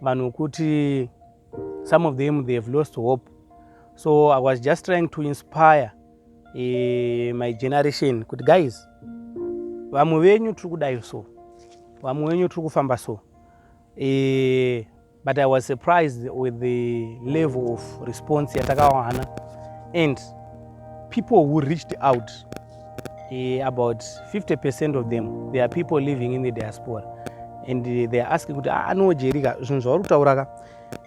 vanhu wekuti some of them they have lost hope so i was just trying to inspire uh, my generation kuti guys vamwe venyu tiri kudai so vamwe venyu tiri kufamba so uh, but i was surprised with the level of response yatakawana and people who reached out about 50 percent of them there are people living in the diaspora and they are asking kuti anojerika ah, zvinhu zvauri kutaura ka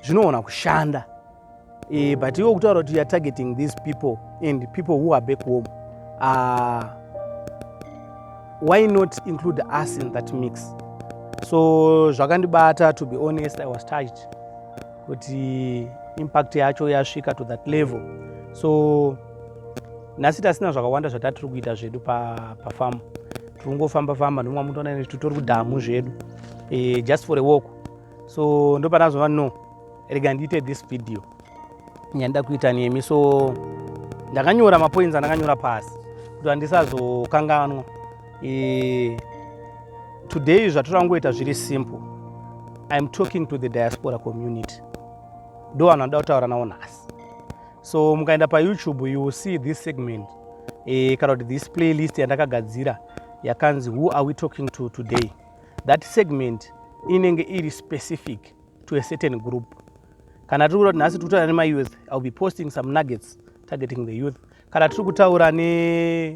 zvinoona kushanda e, but iwo kutaura kuti youare targeting these people and people who are back home uh, why not include us in that mix so zvakandibata to be honest i was touched kuti impact yacho yasvika to that level so nhasi tasina zvakawanda zvatatiri kuita zvedu pafamu tiri kungofamba famba ndomwa mutoona ine titori kudhamu zvedu eh, just for a walk so ndopanazova no rega ndiite this video nyandida kuita nemi so ndakanyora mapoints andakanyora pasi kuti handisazokanganwa eh, today zvatiri angoita zviri simple iam talking to the diaspora community ndo vanhu vanoda kutaura navo nhasi so mukaenda payoutube you will see this segment eh, kana kuti this playlist yandakagadzira yakanzi who are we talking to today that segment inenge iri specific to a certain group kana tiri kuti nhasi tiri kutaura nemayouth iwill be posting some nuggets targeting the youth kana tiri kutaura ne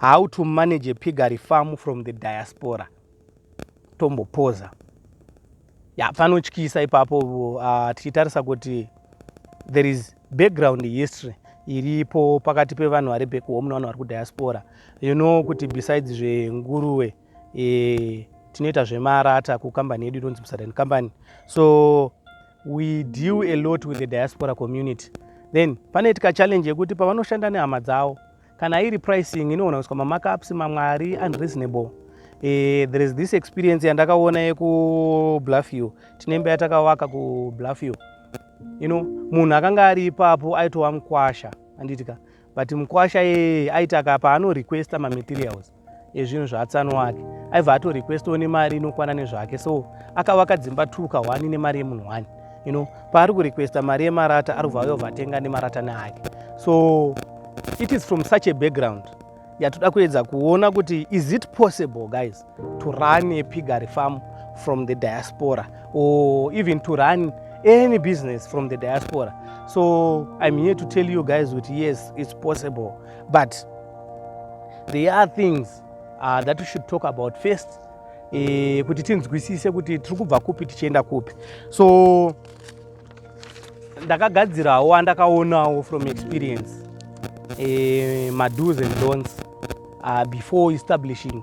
how to manage a piggery farm from the diaspora tombopoza ya panotyisa ipapo uh, tichitarisa kuti there is background history iripo pakati pevanhu vari back home nevanhu vari kudiaspora you know kuti besides zvenguruwe e, tinoita zvemarata kukambani yedu inonzi bsadan company so we deal a lot with the diaspora community then panoitika challenge yekuti pavanoshanda nehama dzavo kana iri pricing inogona kuiswa mamacups mamwari unreasonable e, there is this experience yandakaona yekubluffio tine imba yatakavaka kubluffio you know munhu akanga ari ipapo aitova mukwasha andiitika but mukwasha yeye aitaka paanorequesta mamaterials ezvinhu zvaatsano wake aibva ato requestwo nemari inokwana nezvake so akavaka dzimba two ka one nemari yemunhu one you know paari kurequesta mari yemarata ari kubva yobva atenga nemarata neake so it is from such a background yatoda kuedza kuona kuti is it possible guys to run a pigary farm from the diaspora or even to run any business from the diaspora so i'm here to tell you guys kuti yes it's possible but there are things uh, that we should talk about first eh, kuti tinzwisise kuti tiri kubva kupi tichienda kupi so ndakagadzirawo andakaonawo from experience eh, mados and dons uh, before establishing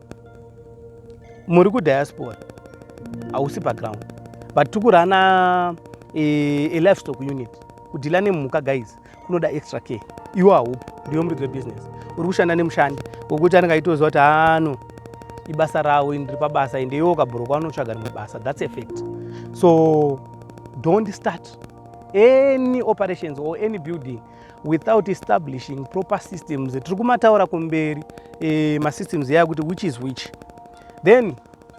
muri kudiaspora hausi background but tiri kurana e, a livestock unit kudhila nemhuka guys kunoda extra care iwo haupi ndiyo muridzi webusiness uri kushanda nemushandi wekuti anenge aitoziva kuti ano ibasa ravo ndiri pabasa ende iwo ukabhurokwa anotsvaga rimwe basa thats effect so don't start any operations or any building without establishing proper systems tiri kumataura kumberi e, masystems yaya kuti which is which then uh,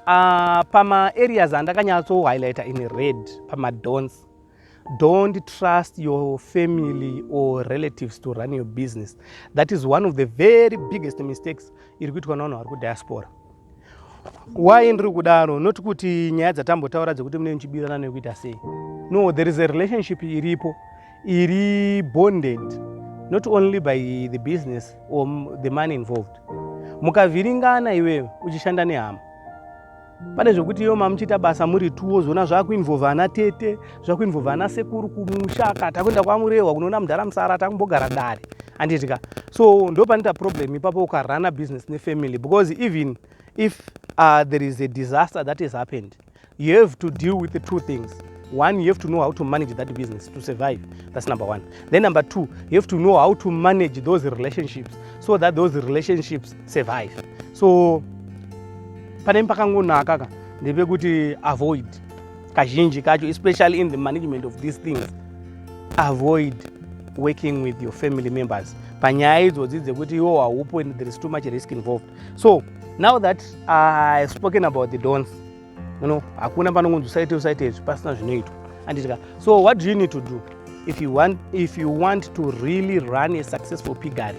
ah, pamaareas andakanyatso highlighter in red pamadons don't trust your family or relatives to run your business that is one of the very biggest mistakes iri kuitwa navanhu vari kudiaspora why ndiri kudaro not kuti nyaya dzatambotaura dzekuti mune muchibirana nekuita sei no there is a relationship iripo iri bonded not only by the business or the money involved mukavhiringana iwewe uchishanda nehama pane zvekuti iyo mamuchiita basa muri two wozoona zvakuinvolve ana tete zvakuinvo vana sekuru kumusha ka takuenda kwamurehwa kunoona mudhara musara takumbogara dare anditi ka so ndopanoita problem ipapo ukarana business nefamily because even if uh, there is a disaster that has happened you have to deal with the two things one you have to know how to manage that business to survive that's number one then number two you have to know how to manage those relationships so that those relationships survive so pane pakangonaka ka ndepekuti avoid kazhinji kacho especially in the management of these things avoid working with your family members panyaya idzodzi dzekuti iwo haupo and there is too much risk involved so now that i have spoken about the dons you know hakuna panongonzi usaite usaite izvi pasina zvinoitwa anditika so what do you need to do if you want, if you want to really run a successful pigary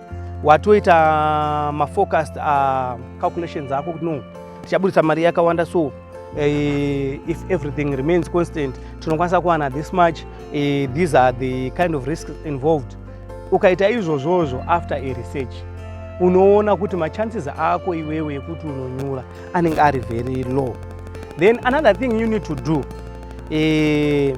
watoita mafocused uh, calculations ako kuti no tichaburitsa mari yakawanda so uh, if everything remains constant tinokwanisa kuwana this much uh, these are the kind of risks involved ukaita izvozvozvo after a research unoona kuti machances ako iwewe ekuti unonyura anenge ari very low then another thing you need to do uh,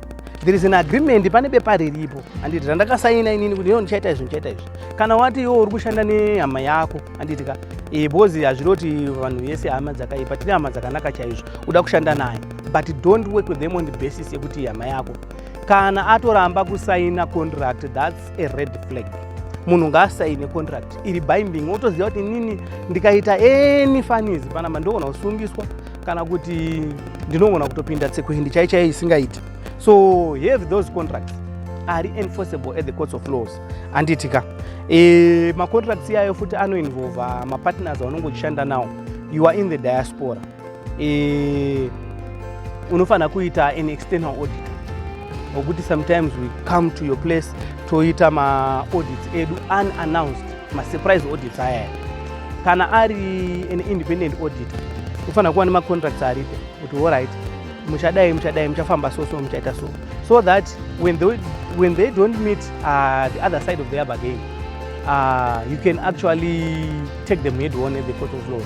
there is an agreement pane bepa riripo handiti randakasaina inini kuti iyo ndichaita izvi ndichaita izvi kana wati iwo uri kushanda nehama yako handiti ka e, because hazviri kuti vanhu vese hama dzakaipa tine hama dzakanaka chaizvo uda kushanda naye but don't work with them on the basis yekuti hama yako kana atoramba kusaina contract thats a red flag munhu ngaasaine contract iri binding otoziva kuti inini ndikaita any fanizi panamba ndogona kusungiswa kana kuti ndinogona kutopinda tsekuhindi chai chai isingaiti so have those contracts ari enforceable at the courts of laws handiti ka e, macontracts iyayo futi anoinvolva mapartners aunonge uchishanda nawo you are in the diaspora e, unofanira kuita an external audit okuti sometimes we come to your place toita maaudits edu unannounced masurprise audits aya kana ari an independent audit kufanira kuva nemacontracts aripo kuti allright muchadai muchadai muchafamba so so muchaita so so that when they, when they don't meet uh, the other side of their bargain uh, you can actually take them head on at the court of law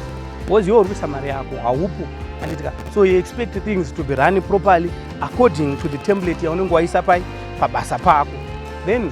was your rusa mari yako haupo anditika so you expect things to be run properly according to the template yaunenge waisa pai pabasa pako then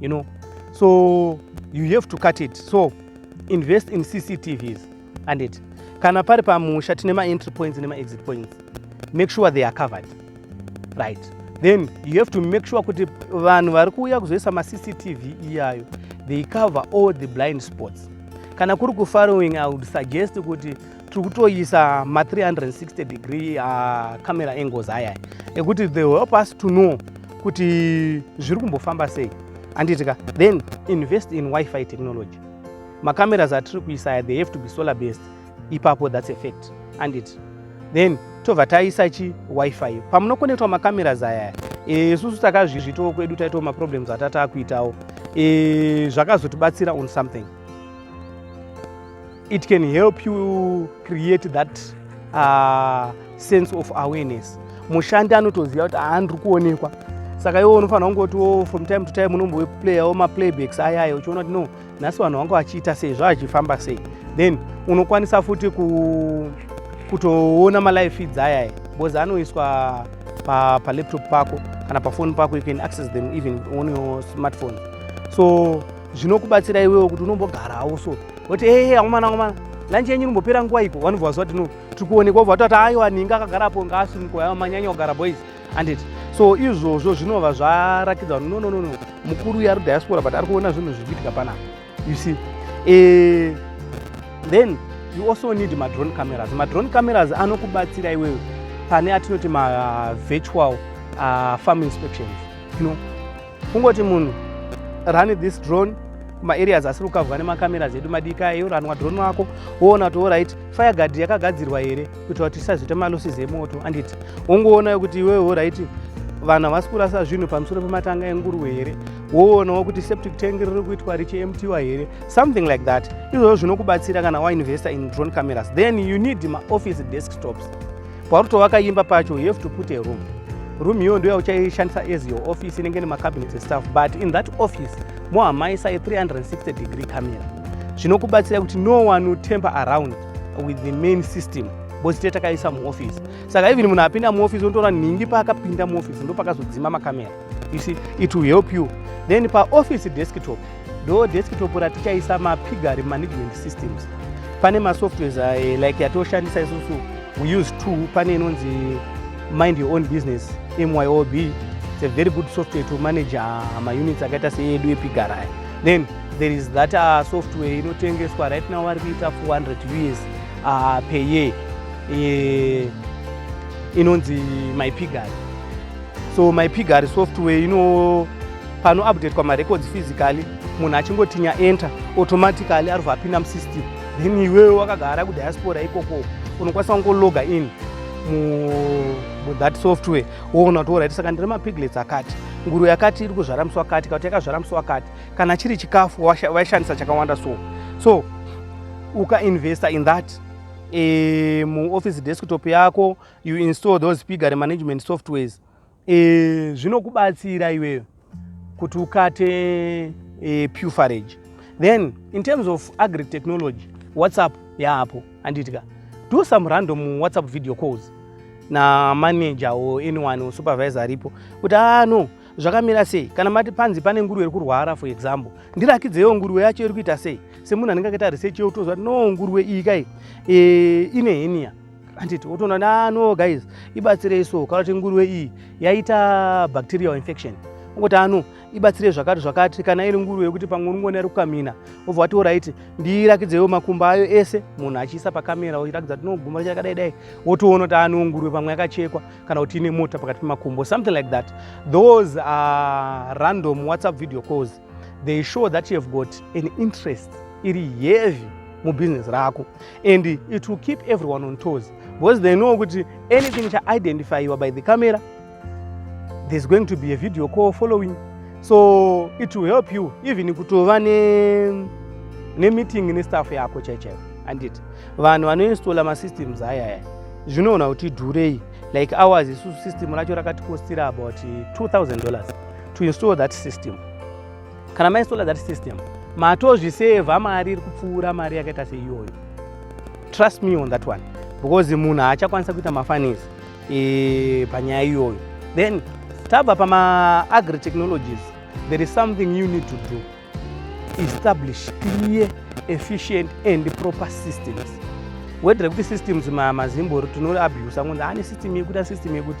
you know so you have to cut it so invest in cctvs and it kana pari pamusha tine maentry points nemaexit points make sure they are covered right then you have to make sure kuti vanhu vari kuuya kuzoisa macctv iyayo they cover all the blind spots kana kuri kufarowing i would suggest kuti tiri kutoisa ma 360 degree uh, camera angles aya ekuti they help us to know kuti zviri kumbofamba sei anditika then invest in wifi technology macameras atiri kuisa aya they have to be solar based ipapo that's a fact andit then tobva taisa chi wifi pamunokonetwa macameras aya isusu e, takazvizvitawo kwedu taitawo maproblems atatakuitawo e, zvakazotibatsira on something It can help you create that uh, sense of awareness. Mushandi anotoziva kuti haandiri kuonekwa saka iwo unofanira kungotiwo from time to time unomboplayawo maplaybacks aya aya uchiona kuti no nhasi vanhu vangu vachiita sei zvaachifamba sei then unokwanisa futi ku, kutoona malive feeds ayaya because anoiswa palaptop pa pako kana pafoni pako you can access them even on your smartphone so zvinokubatsira iwewo kuti unombogarawo so woti ee akomana akomana lanchi yenyu inombopera nguva iko vanobva vaziva kuti no tiri kuonekwa vobva vatoti aiwa ninga akagara apo ngaasumikoya manyanya kugara boys anditi so izvozvo zvinova zvarakidza kuti nononono mukuru uyo ari diaspora but ari kuona zvinhu zviri kuitika panapa you see e, then you also need madrone cameras madrone cameras anokubatsira iwewe pane atinoti mavirtual uh, uh, farm inspections you know kungoti munhu run this drone maareas asiri kukavwa nemacameras edu madika ayo ranwa drone wako woona kuti orit fireguard yakagadzirwa here kuitira kuti tisazoita malosses emoto anditi wongoonayo kuti iwewe orit vanhu havasi kurasa zvinhu pamusoro pematanga enguruve here woonawo kuti septic tank riri kuitwa richiemptiwa here something like that izvozvo zvinokubatsira kana wainvesta in drone cameras then you need maoffice desktops pauri kutovaka imba pacho you have to put a room room iyoyo ndo yauchaishandisa as your office inenge nemacabinet estuff but in that office mohamaisa a 360 degree camera zvinokubatsira kuti no one will temper around with the main system because tete takaisa muoffice saka even munhu apinda muoffice unotoona nhingi paakapinda muoffice ndopakazodzima makamera you see it will help you then paoffice desktop ndo desktop ratichaisa mapigary management systems pane masoftwares uh, like yatoshandisa isusu we use two pane inonzi mind your own business myob it's a very good software to manage uh, maunits akaita seyedu epigary aya then there is that uh, software inotengeswa right now vari kuita 400 us uh, per year uh, inonzi mypigary so my pigary software ino pano update kwa marecords physically munhu achingotinya enter automatically aribva apinda musystem then iwewe wakagara kudiaspora ikoko unokwanisa kungologa in muthat software woona kuti orit saka ndiri mapiglets akati nguru yakati iri kuzvara musi wakati kauti yakazvara musi wakati kana chiri chikafu waishandisa chakawanda so so ukainvesta in that e, muoffice desktop yako you install those piggery management softwares e, zvinokubatsira iweyo kuti ukate e, eh, pufarage then in terms of agri technology whatsapp yaapo anditika do some random whatsapp video calls na manager or anyone or supervisor aripo kuti ano ah, zvakamira sei kana mati panzi pane nguruve iri kurwara for example ndirakidzeyo nguruve yacho iri kuita sei semunhu anenge akaita research yeutoziva kuti no nguruve iyi kai e, ine henia handiti wotoona nano guys ibatsirei so kana kuti nguruve iyi yaita bacterial infection ungoti ano ibatsirei zvakati zvakati kana iri nguruve yekuti pamwe unongona iri kukamina wobva wati oraiti ndiirakidzewo makumba ayo ese munhu achiisa pakamera oirakidza kuti noguma chakadai dai wotoona kuti ano nguruve pamwe yakachekwa kana kuti ine mota pakati pemakumbo something like that those are random whatsapp video calls they show that you have got an interest iri heavy mubusiness rako and it will keep everyone on toes because they know kuti anything chaidentifyiwa by the camera there's going to be a video call following so it will help you even kutova nemeeting ne nestaff yako chaichaivo andit vanhu vanoinstalla masystems ayaya zvinoona kuti dhurei like ours isusu system racho rakatikostira about 2000 dollars to install that system kana mainstalla that system matozvisevha mari iri kupfuura mari yakaita seiyoyo trust me on that one because munhu haachakwanisa kuita mafanis e, panyaya iyoyo then tabva pamaagri technologies there is something you need to do establish clear efficient and proper systems wedre kuti systems mazimbori tinoabusa ngonzi ane system yekuti asystem yekuti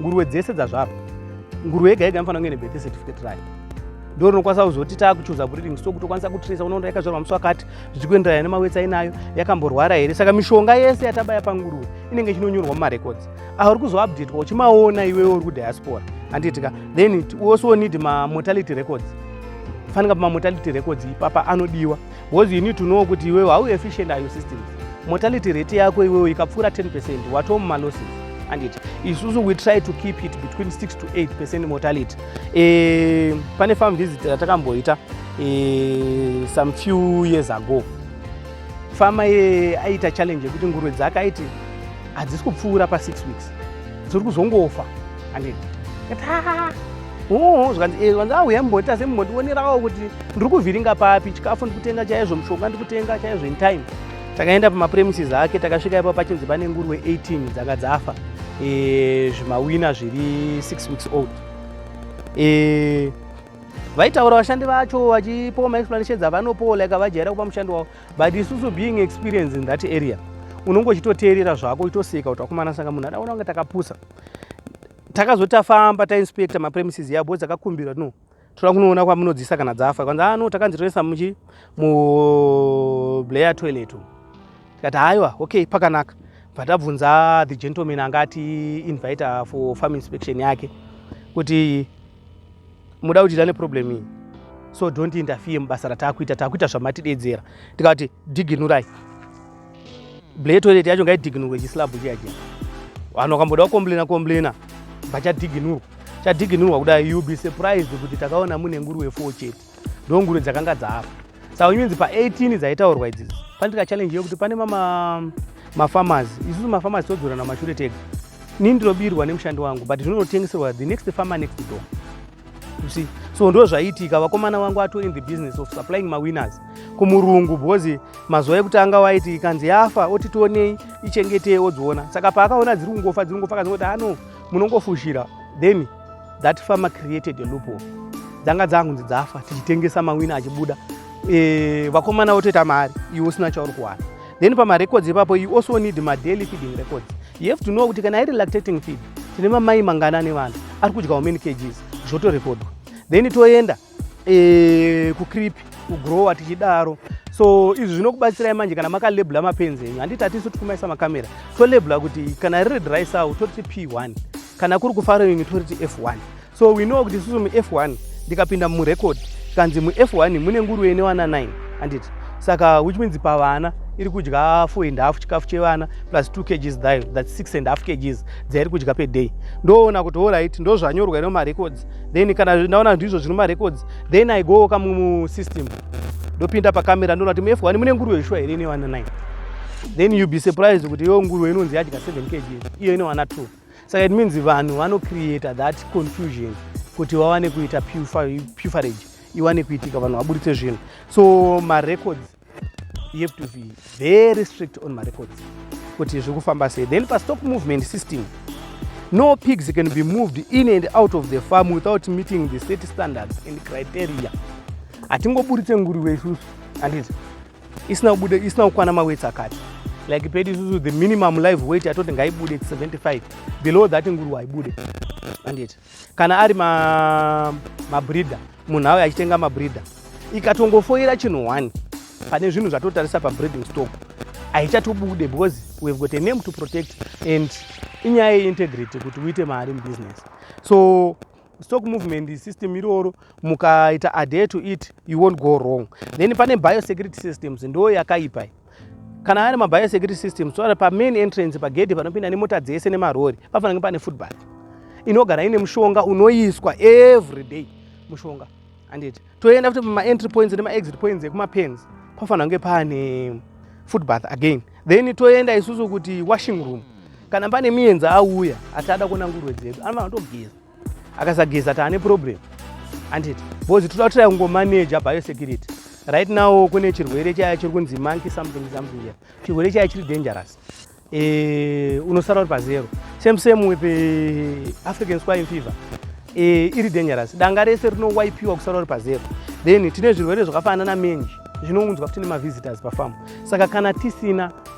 nguruwe dzese dzazvarwa nguruwe yega yega inofanira kunge nebirth certificate rayo ndo rinokwanisa kuzoti taakuchuza breeding so kuti ukwanisa kutrisa unoona yakazvarwa musi wakati zvichikuenderana nemawetsi ainayo yakamborwara here saka mishonga yese yatabaya panguruwe inenge chinonyorwa mumarecords auri kuzoupdatwa uchimaona iwewe uri kudiaspora handiitika then also need mamortality records fanika pamamortality records ipapa anodiwa because you need to know kuti iwewe how efficient are your systems mortality rate yako iwewe ikapfuura 10 percent watoo mumalosses and it isusu we try to keep it between 6 to 8 percent mortality e, pane farm visit ratakamboita e, some few years ago fama ye aiita challenge yekuti nguruve dzake aiti hadzisi kupfuura pa6 weeks dziri kuzongofa and it oo zvikanzi eh, zvikanzi auya ah, mumbondiita se mumbondionerawo kuti ndiri kuvhiringa papi chikafu ndikutenga chaizvo mushonga ndikutenga chaizvo in time takaenda pamapremises ake takasvika ipa pachinzi pane nguruve 18 dzanga dzafa eh, zvimawina zviri 6 weeks old eh, vaitaura vashandi vacho vachipowa maexplanations avanopowa like avajaira kupa mushandi wavo but isusu being experience in that area unonge uchitoteerera zvako uchitoseka kuti akumana saka munhu adaona kunge takapusa takazoti tafamba tainspecta mapremises yabo dzakakumbirwa no toda kunoona kwamunodzisa kana dzafa kwanzi ano ah, takanzi toisa muchi mublayer toilet tikati haiwa okay pakanaka bva tabvunza the gentleman anga ati invita for farm inspection yake kuti muda kuti tane problem iyi so don't interfere mubasa rataakuita taakuita zvamatidedzera tikati diginurai ble toilet yacho ngaidiginurwe chislab chiya chiya vanhu vakamboda kukomblena komblena bva chadiginurwa chadiginurwa kudai youll be surprised kuti takaona mune nguruwe four chete ndongure dzakanga dzaafa saka unyenzi pa18 dzaitaurwa idzidzo pandika challenge yekuti pane mama mafarmers isusu mafarmers todzorana mashure tega nini ndinobirwa nemushandi wangu but zvinonotengeserwa the next farmer next door you see so ndo zvaiitika vakomana vangu ato in the business of supplying mawinners kumurungu because mazuva ekutanga waiti ikanzi yafa oti tionei ichengetei odziona saka paakaona dziri kungofa dziri kungofa akazongoti ano munongofushira then that farmer created a loophole dzanga dzangunzi dzafa tichitengesa mawina achibuda e, vakomana votoita mari iwe usina chauri kuwana then pamarecords ipapo you also need madaily feeding records you have to know kuti kana iri lactating feed tine mamai mangana nevana ari kudyawo many kgs zvotorekodwa then toenda to e, kucrip kugrowa tichidaro so izvi zvinokubatsirai manje kana makalebula mapenzi enyu handiti hatisu tikumaisa makamera tolebula kuti kana riri dry sow toriti p1 kana kuri kufarowing toriti f1 so we know kuti isusu muf1 ndikapinda murecord kanzi muf1 mune nguru ene wana 9 handiti saka which means pavana iri kudya 4 and half chikafu chevana plus 2 kgs thayo that 6 and half kgs dzairi kudya peday ndoona kuti orit ndozvanyorwa ino marecords then kana ndaona ndizvo zvino marecords then i go ka musystem ndopinda pacamera ndoona kuti mf wani mune nguruve shuwa here ine wana 9 then you be surprised kuti yo nguruve inonzi yadya 7 kg iyo ine wana 2 saka it means vanhu vanocreata that confusion kuti vawane kuita pufarage iwane kuitika vanhu vaburitse zvinhu so marecords you have to be very strict on marecords kuti zviri kufamba sei then pastock movement system no pigs can be moved in and out of the farm without meeting the state standards and criteria hatingoburitse nguruve isusu handiti isina kubuda isina kukwana mawetsi akati like pedu isusu the minimum live weight atoti ngaibude 75 below that nguruve haibude handiti kana ari mabreeder ma munhu auya achitenga mabreeder ikatongofoira chinhu one pane zvinhu zvatotarisa pabreeding stock haichatobude because we have got a name to protect and inyaya yeintegrity kuti uite mari mubusiness so stock movement system iroro mukaita adhere to it you won't go wrong then pane biosecurity systems ndo yakaipa kana aya nemabaya security system so pamain entrance pagedhi panopinda nemota dzese nemarori pafanange pane footbath inogara ine mushonga unoiswa every day mushonga anditi toenda futi pamaentry points nemaexit points ekumapens pafanange pane footbath again then toenda isusu kuti washing room kana pane mienzi auya ati ada kuona nguruve dzedu anofanira kutogeza akasageza taane problem anditi because toda kutira kungomaneja biosecurity right now kune chirwere chaya chiri kunzi monkey something something here chirwere chaya chiri dangerous e, unosara uri pazero same same with eh, african swine fever e, iri dangerous danga rese rinowaipiwa kusara uri pazero then tine zvirwere zvakafanana na menji zvinounzwa futi nemavisitors pafamu saka kana tisina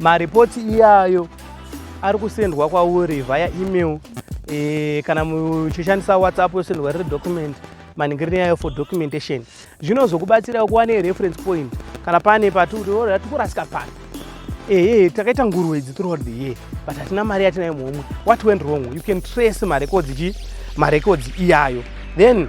maripoti iyayo ari kusendwa kwauri via email e, kana muchishandisa whatsapp yosendwa riri document maningiriro yayo for documentation zvinozokubatsirawo kuva nereference point kana pane patikuti tikurasika pano ehe takaita nguru idzi throughout the year but hatina mari yatinayo muhomwe what went wrong you can trace marekodzi chi marekodzi iyayo then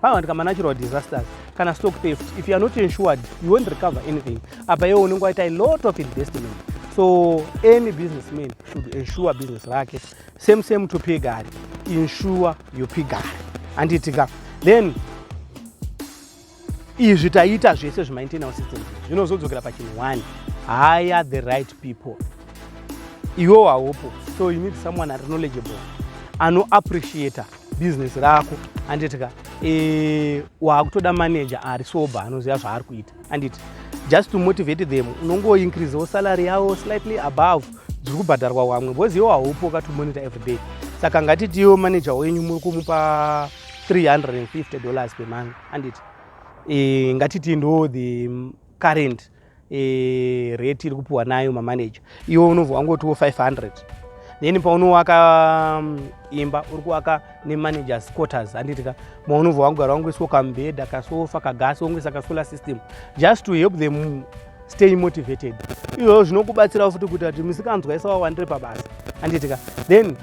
pavawanika manatural disasters kana stock theft if you are not insured you won't recover anything apa iwe unenge waita a lot of investment so any business man should insure business rake same same to pigari insure your pigari anditika then izvi taiita zvese zvemaintainal system zvinozodzokera pachinhu one hire the right people iwewo haupo so you need someone ari knowledgeable anoappreciator business rako anditi ka e, waakutoda manager ari sober anoziva zvaari kuita anditi just to motivate them unongoincreasewo salary yavo slightly above dziri kubhadharwa wamwe bcause iwo haupo ka to monitor every day saka ngatitiwo manager wenyu muri kumupa 350 dollars per month anditi e, ngatitii ndo the current e, rate iri kupiwa nayo mamaneja iwe unobva wangotiwo 500 then paunowaka mm, imba uri kuwaka nemanagers quarters handitika maunobva wangogara wangoiswa kambhedha kasofa kagasi wongoisa kasolar system just to help them mm, stay motivated izvozvo zvinokubatsirawo futi kuti ati misikanzwa isa wawandire pabasa handitika then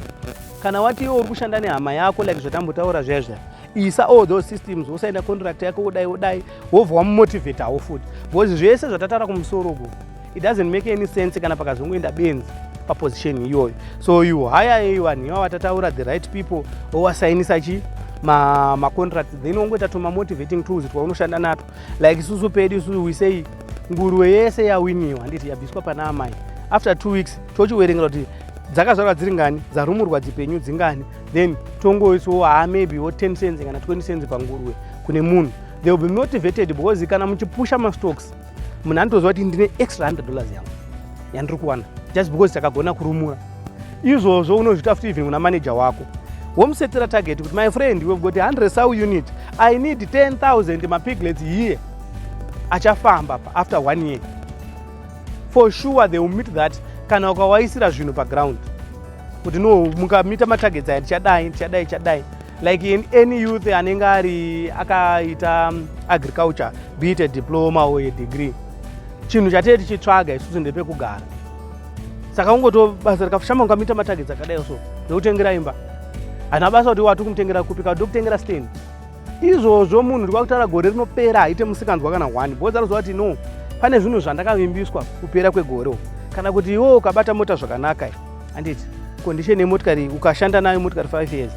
kana wati iwe uri kushanda nehama yako like zvatambotaura zviya zviya isa all those systems wosaina contract yako wodai wodai wobva wamumotivatawo futi because zvese zvatataura kumusoro uko it doesn't make any sense kana pakazongoenda benzi paposition iyoyo so you hire iyu vanhu iva vatataura the right people owasainisa chi macontract ma then wongoita tumamotivating tools twaunoshanda nato like isusu pedu isusu we say nguruwe yese yawiniwa handiti yabviswa pana amai after two weeks tochiwerengera kuti dzakazvarwa dziri ngani dzarumurwa dzipenyu dzingani then tongoisawo haa maybe wo 10 cents kana 20 cents pangurwe kune munhu they will be motivated because kana muchipusha mastocks munhu anotoziva kuti ndine extra 100 dollars yangu yandiri kuwana just because takagona kurumura izvozvo unozviita futi even kuna manager wako womusetera target kuti my friend we've got 100 sow unit i need 10000 mapiglets here achafamba pa after one year for sure they will meet that kana ukawaisira zvinhu paground kuti no mukamita matargets aya tichadai tichadai tichadai like in any youth anenge ari akaita um, agriculture be it a diploma or a degree chinhu chatee tichitsvaga isusu ndepekugara saka ungoto basa rikafashama ungamita matargets akadai so ndokutengera imba hana basa kuti wati kumutengera kupi kauti ndokutengera stand izvozvo munhu ndikuva kutaura gore rinopera haite musikanzwa kana one bhozi anoziva kuti no pane zvinhu zvandakavimbiswa kupera kwegore uku kana kuti iwo ukabata mota zvakanaka handiti condition yemotikari ukashanda nayo motikari five years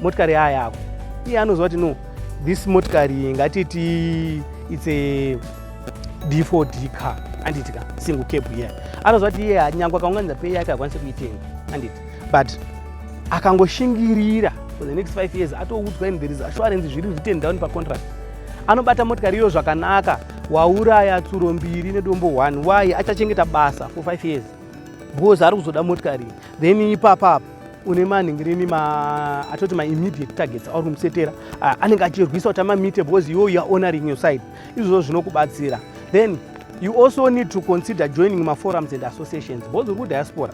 motikari yaa yako iye anoziva kuti no this motikari ngatiti its a d for d car handiti ka single cab iya anoziva kuti iye nyangwe akaunganidza pei yake akwanise kuitenga handiti but akangoshingirira for the next five years atoudzwa in there is assurance zviri written down pacontract anobata motikari iyo zvakanaka wauraya tsuro mbiri nedombo one why achachengeta basa for five years because ari kuzoda motikari then ipapapa une manhingirini ma atoti ma immediate targets auri kumusetera ah, anenge achirwisa kuti amamite because iwo youare honoring your side izvozvo zvinokubatsira then you also need to consider joining maforums and associations because uri kudiaspora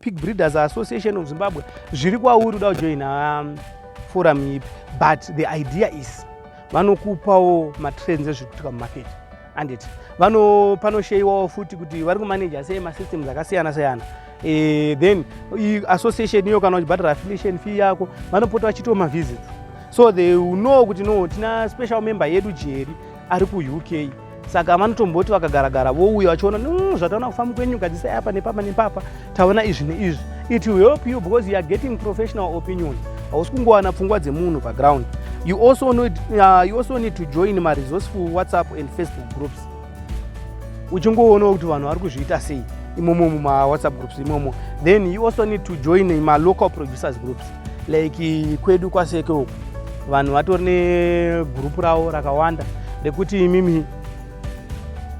pig breeders association of zimbabwe zviri kwauri uda kujoina um, forum ipi but the idea is vanokupawo matrends ezviri kuitika mumarket anditi vano panosheyiwawo futi kuti vari kumanaja sei masystems akasiyana siyana e, then association iyo kana uchibhadhara affiliation fee yako vanopota vachitawo mavisits so they know kuti no tina special member yedu jeri ari kuuk saka vanotomboti vakagaragara vouya vachiona mm, zvataona kufamba kwenyu gadzisai apa nepapa nepapa taona izvi neizvi it will help you because you are getting professional opinion hausi kungowana pfungwa dzemunhu paground you also, know, uh, you also need to join maresourceful whatsapp and facebook groups uchingoonawo kuti vanhu vari kuzviita sei imomo mumawhatsapp groups imomo then you also need to join malocal producers groups like kwedu kwaseke uku vanhu vatori negurupu ravo rakawanda rekuti imimi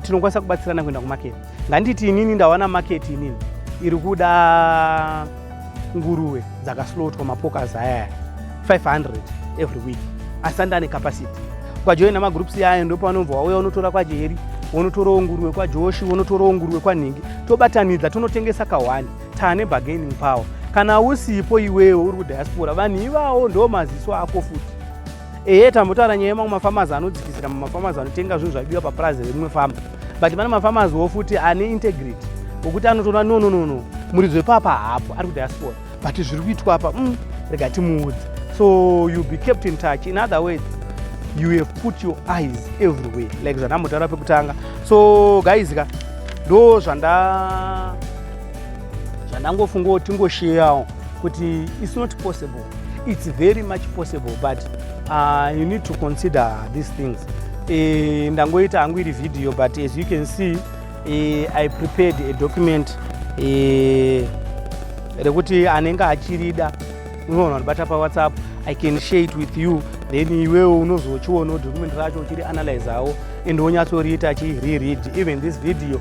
tinokwanisa kubatsirana kuenda kumaketi nganditi inini ndawana maketi inini iri kuda nguruve dzakaslotwa mapokas ayaya 500 every week asi andi ane capacity ukajoina magroups yayo ndopaunobva wauya unotora kwajeri wonotorawo nguruve kwajoshi wonotorawo nguruve kwanhingi tobatanidza tonotengesa kahwani tane bargaining power kana usipo iwewe uri kudiaspora vanhu ivawo ndo maziso ako futi ehe tambotaura nyaya yemamwe mafamazi anodzikisira mumafamazi anotenga zvinhu zvaibiwa papurazi rerimwe fama but pane mafamaziwo futi ane integrity okuti anotoona no no no no muridzo wepapa haapo ari kudiaspora but zviri kuitwa apa mm, rega timuudze so you be kept in touch in other words you have put your eyes everywhere like zvandambotaura pekutanga so guys ka ndo zvanda zvandangofungawo tingosheyawo kuti its not possible its very much possible but uh, you need to consider these things e, ndangoita hangu iri video but as you can see e, i prepared a document e, rekuti anenge achirida unoona ndibata pawhatsapp i can share it with you then iwewe unozochionawo document racho uchiri analyzawo and wonyatsoriita chireread even this video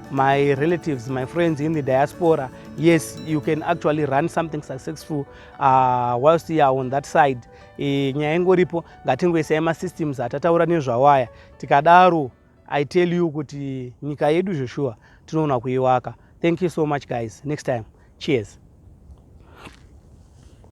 my relatives, my friends in the diaspora, yes, you can actually run something successful uh, whilst you are on that side. E, nyaya ingoripo ngatingoisai masystems atataura nezvawo aya tikadaro i tell you kuti nyika yedu zveshuwa tinoona kuiwaka thank you so much guys next time cheers